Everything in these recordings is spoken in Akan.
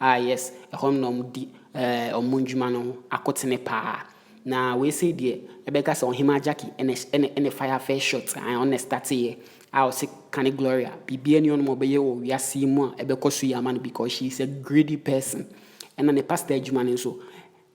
Ah yes, ɛhɔ no na wɔdi eh, wɔn ndwuma no akotene paa. Na wei sei deɛ, ɛbɛka sɛ Ɔhemaa Jackie ɛna ɛhy- ɛna ɛna fire first shot, ae, ɔno na ɛstateeɛ a ɔse kane Gloria, biribiara nni hɔ nom a ɔbɛyɛ wɔ wiase yi mu a ɛbɛkɔ so yie ama no because she is a greedy person. Ɛna ne pastor adwuma no nso,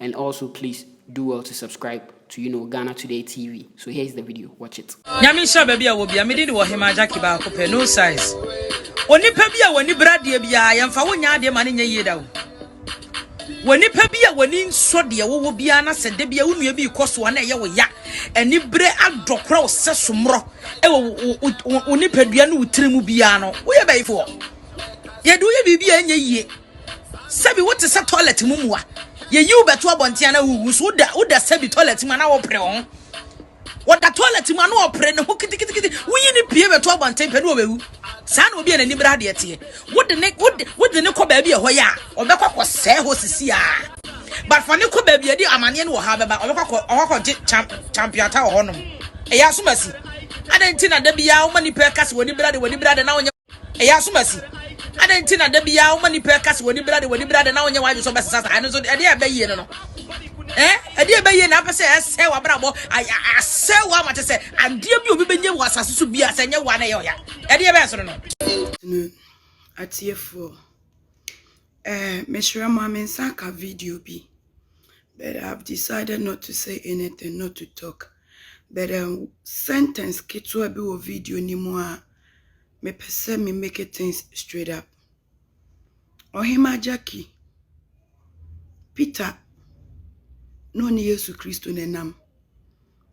And also please do well to subscribe to you know Ghana today TV so here is the video watch it. Nyame nhyira baabi a wɔ bia me din de wɔ hema Jackie baako pɛ no size onipa bi a w'ani bere adeɛ biara yɛmfa wo nyɛ adeɛ ma ne nyɛ yie da o w'anipa bi a w'ani nsɔ deɛ wowɔ biara na sɛ da bia wo nua bi kɔ so a na ɛyɛ wo ya ani bere adɔ kora wo sɛ somorɔ ɛwɔ wo nipadua ne wo tiri mu biara no woyɛ bɛyifoɔ yɛde woyɛ biribi a ɛnyɛ yie Sɛbi wote sɛ toilet mu mmoa. Yɛyi wo bɛto abɔnten na wuwu so woda woda sɛbi toilet mu na wɔpere wo ho. Wɔda toilet mu na wɔpere ne ho kitikitikiti. Woyi ne pie bɛto abɔnten pɛ ne wɔbɛwu. Saa na obi a n'ani bere adeɛ teɛ. Wode ne wode wode ne kɔ baabi a ɛhɔ yɛ a ɔbɛkɔ kɔ sɛe hɔ sisi a. But fa ne kɔ baabi a ɛde amaneɛ ne ɔhaw bɛba ɔbɛkɔ kɔ ɔkɔ gye champ champiata wɔ hɔnom. Ɛyɛ asomasi. Adɛn nti na da biara woma nipa ɛka sɛ w'ani bere ade w'ani bere ade na wonyɛ ɛyɛ asomasi adɛn nti na da biara woma nipa ɛka sɛ w'ani brade w'ani brade na wonyɛ w'adwe sɛ wobɛsesa saa ɛno nso ɛdeɛ a ɛbɛyie no no eh, ɛdeɛ a ɛbɛyie na apɛ sɛ ɛsɛ w'abrabɔ asɛ wo ama te sɛ adeɛ bi obi bɛnyɛ wɔ asase so bi a sɛ ɛnyɛ wo a na ɛyɛ ɔya ɛdeɛ bɛyɛ soro no atiefoɔ eh, mesrɛ mo a me nsa ka video bi but I've decided not to say anything, not to talk. But a um, sentence ketewa bi wɔ video ni mu a mepɛ sɛ me make things straight up. Ɔhema Jackie, Peter na ɔne Yesu Kristo na ɛnam.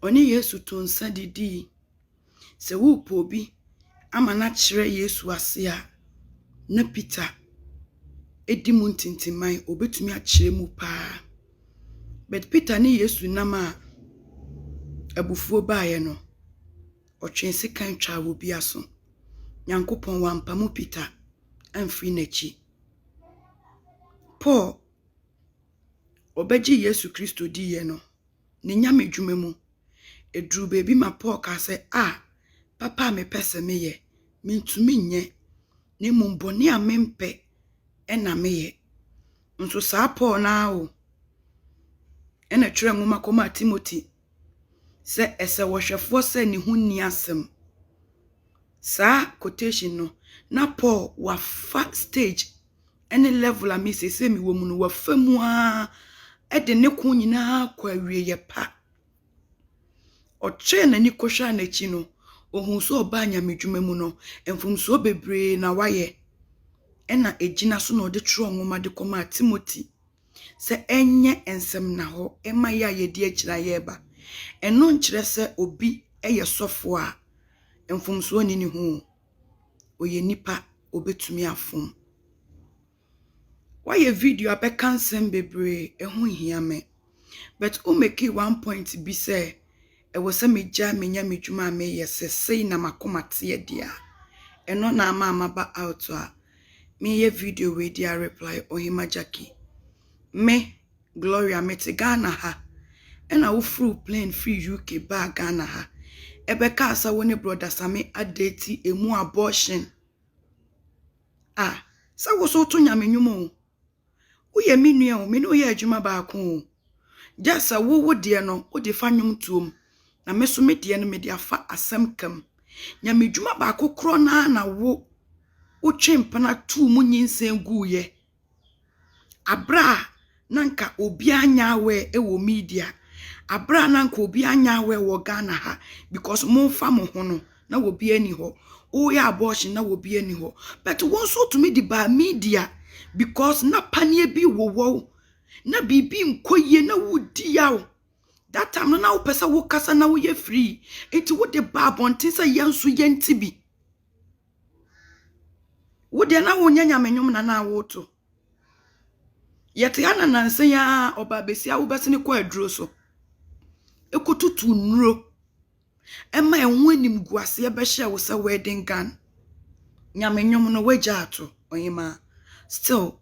Ɔne Yesu to nsa didii. Sɛ worepɛ obi ama no akyerɛ Yesu ase a, na Peter di mu ntintimman, obetumi akyerɛ mu paa. But Peter ne Yesu nam a abufuo baeɛ no, ɔtwee sekan twaa wɔ bi aso. Nyankopɔn wampamo Peter amfiri n'akyi. Paul, ɔbɛgye Yesu Kristo diiɛ no, ne Nyame dwuma mu. Ɛduruu baabi ma Paul kaa sɛ, A, papa a mepɛ sɛ meyɛ, mentumi nyɛ, na mmom bɔne a mempɛ na meyɛ. Nso saa Paul no ara o, ɛna ɛtwerɛ nwoma kɔmaa Timothy sɛ ɛsɛ wɔhwɛfoɔ sɛ ne ho nni asɛm. Saa quotation no, na Paul wafa stage ne level a me sese me wɔ mu no wafa mu ara de ne ko nyinaa kɔ awieɛ pa ɔkyerɛ n'ani kɔhwɛ n'akyi no ohun sɛ ɔbaa nyamedwuma mu no mfomsoɔ bebree na wayɛ ɛna egyina so na ɔde twerɛ nwoma de kɔmaa Timothy sɛ ɛnyɛ nsɛm na hɔ ɛma yɛ a yɛdi akyira yɛreba ɛno nkyerɛ sɛ obi ɛyɛ sɔfo a mfomsoɔ ni ne ho ɔyɛ nipa ɔbɛtumi afom. Wayɛ video a bɛka nsɛm bebree ɛho nhia me but wo make one point bi sɛ ɛwɔ sɛ me gyae me nyame dwuma a meyɛ sɛ sei na makoma teɛ deɛ a ɛno na ama maba out a meyɛ video wei de a reply Ɔhema Jackie me. Gloria mete Ghana ha ɛna wo foro plane firi UK baa Ghana ha ɛbɛ kaa sɛ wo ne brother Same adeti emu abortion ah sɛ wo so to nyame nyumo wo yɛ me nua o me ne wo yɛ adwuma baako o just sɛ wo wo deɛ no wo de fa nyom tuom na me so me deɛ no me de afa asɛm kam nyame dwuma baako korɔ na na wo wo twe mpena tuu mu nyinsɛn guu yɛ Aber a na anka obiara nnyɛ aware wɔ media, aber a na anka obiara nnyɛ aware wɔ Ghana ha because momfa mo ho no, na obiara nni hɔ. Woyɛ abortion na obiara nni hɔ. But wo nso wotumi de baa media because na paneɛ bi wowɔ wo, na biribi nkɔ yie na wodi yaw. That time no na wopɛ sɛ wokasa na woyɛ free, nti wode baa abɔnten sɛ yɛn nso yɛnte bi. Wo deɛ na wonyɛ nyame nnwom na na woto. Yɛte ha na nansa yi ara ɔbaa besia wobɛsene kɔ aduro so kɔtutu nnuro ma ɛho animguaseɛ bɛhyɛɛ wo sɛ wedding gown. Nyame nnwom no woagya ato ɔhemaa. Still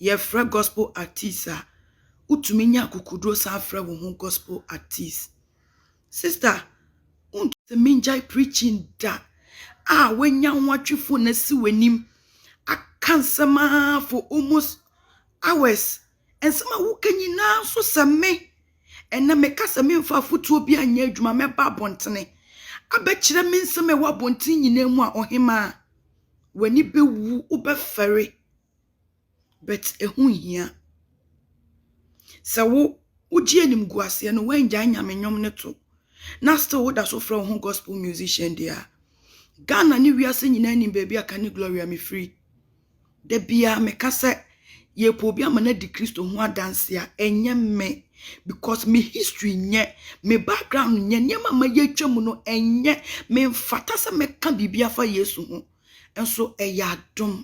yɛfrɛ gospel artist a wotumi nya akokoduo san frɛ wo ho gospel artist. Sista wont sɛ mengyae preaching da a wanya ho atwe phone asi w'anim aka nsɛm ara for almost hours nsɛm a woka nyinaa nso sɛ me ɛnɛ meka sɛ memfa afotuo bi anyɛ adwuma mɛba abɔntene abɛkyerɛ me nsɛm a ɛwɔ abɔntene nyinaa mu a ɔhemaa w'ani bɛwu wobɛfɛre but ɛho nhia. Sɛ wo wogye animguaseɛ no woangyae nyame nnwom no to na still woda so frɛ wo ho gospel musician deɛ a, Ghana ne wiase nyinaa nim baabi a Kani Gloria mefiri. Da biara meka sɛ yɛpɛ obi ama no adi Kristo ho adanse a ɛnyɛ me because me history nyɛ me background nyɛ nneɛma ma yɛatwa mu no ɛnyɛ memfata sɛ mɛka biribi afa Yesu ho. nso ɛyɛ adom.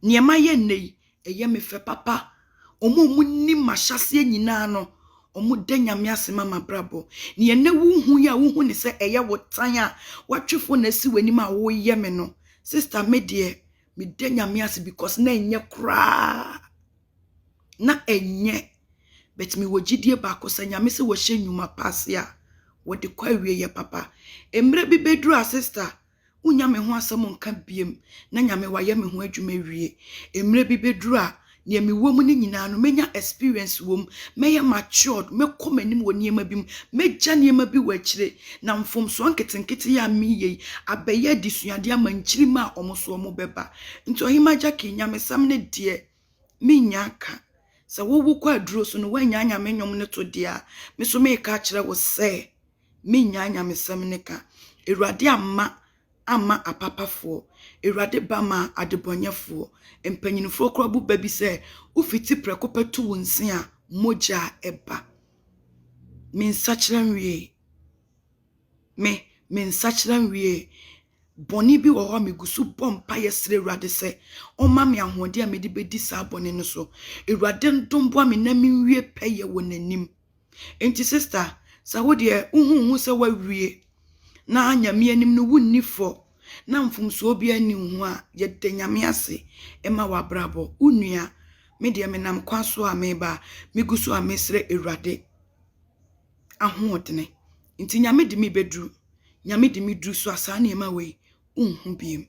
Neɛ mayɛ nnɛ yi, ɛyɛ me fɛ papa. Wɔn a wɔnim m'ahyɛaseɛ nyinaa no, wɔda Nyame ase ma m'abrabɔ. Neɛ nnɛ wohu yi a wohu ne sɛ ɛyɛ wo tan a woatwe fo na asi w'anim a woreyɛ me no, sista me deɛ, meda Nyame ase because na ɛnyɛ koraa. na ɛnyɛ but me wɔ gyidie baako sɛ nyame sɛ wɔhyɛ nnwuma pa ase a wɔde kɔ awie yɛ papa mmerɛ bi bɛduru a sister wonya me ho asɛm nka biem na nyame wayɛ me ho adwuma wie mmerɛ bi bɛduru a nea me wɔ mu no nyinaa no mɛnya experience wɔ mu mɛyɛ matured mɛkɔ m'anim wɔ nneɛma bi mu mɛgya nneɛma bi wɔ akyire na mfomsoɔ nketenkete yɛ a meyɛ yi abɛyɛ adesuadeɛ ama nkyirima a wɔn so wɔn bɛba nti ɔhema gyaki nyamesɛm ne deɛ Minnya ka. Sɛ wo wokɔ aduro so no woannya nyame nnwom no to deɛ a, me nso meka akyerɛ wo sɛ minnya nyamesɛm no ka. Awurade amma amma apapafoɔ, Awurade ba maa adebɔnyɛfoɔ. Mpanyinfoɔ koraa bu ba bi sɛ wofiti prɛko pɛ to wo nse a, mogya a ɛba. Me nsakyera nwiee. Me, me nsakyera nwiee. bɔne bi wɔ hɔ a megu so bɔ mpaeɛ srɛ Awurade sɛ ɔmma me ahoɔden a mede bɛdi saa bɔne no so. Awurade ndom boa me na menwie pɛyɛ wɔ n'anim. Enti sista, sɛ wo deɛ wohu wo ho sɛ woawie na Nyame anim no wonni fɔ na mfomsoɔ biara nni wo ho a, yɛda Nyame ase ma w'abrabɔ. Wo nua, me deɛ menam kwan so a mereba a, megu so a mesrɛ Awurade. ahoɔdene. Nti Nyame de me bɛduru. Nyame de me duru so a saa nneɛma wei wonhu biom.